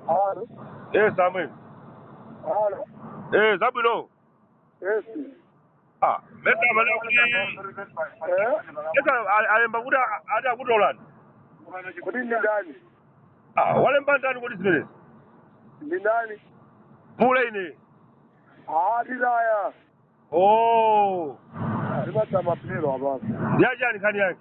Halo. Eh, Samuel. Halo. Eh, zabwino. Yes. Ah, mesa amene kuti Eh? mesa a- alemba kuti a- ati akutolani. Kodi ndi ndani? Ah, walemba ndani kodi zimenezi? Ndi ndani? Pule ine. Ah, tilaya. Oh, Ndimata mapiro abapo. ndi yachani nkhani yake.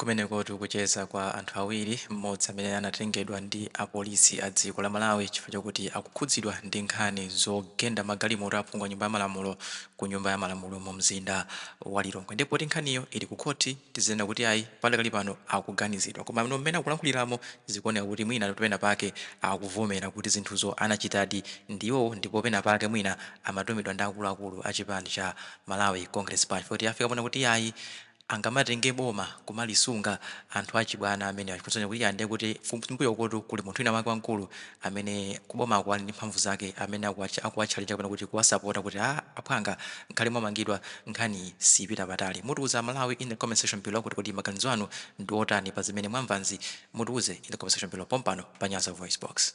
Kumenekotu kucheza kwa anthu awiri, mmodzi amene anatengedwa ndi a polisi a dziko la Malawi chifukwa chakuti akukhudzidwa ndi nkhani zogenda magalimoto a phungu a nyumba ya malamulo ku nyumba ya malamulo mu mzinda wa Lilongwe. Ndiye poti nkhaniyo ili ku khothi, tizinena kuti ayi padakali pano akuganizidwa. Komano mmene akulankhuliramo zikuoneka kuti mwinatu pena pake akuvomera kuti zinthuzo anachitadi ndi iwowo ndipo pena pake mwina amatumidwa ndi akuluakulu a chipani cha Malawi Congress Party chifukwa choti afika ponena kuti iyayi angamatenge boma kumalisunga anthu achibwana amenewa chifukwa chonena kuti iyaa ndiye kuti kumbuyokotu kuli munthu wina wake wamkulu amene kubomako ali ndi mphamvu zake amene akuwa akuwatchajitsa kapena kuti kuwasapota kuti aa aphwanga nkhale mwamangidwa nkhaniyi siipita patali mutiuze aMalawi in the comment section below kuti kodi maganizo anu ndi otani pa zimene mwamvanzi mutiuze in the comment section below pompano pa nyasa voicebox.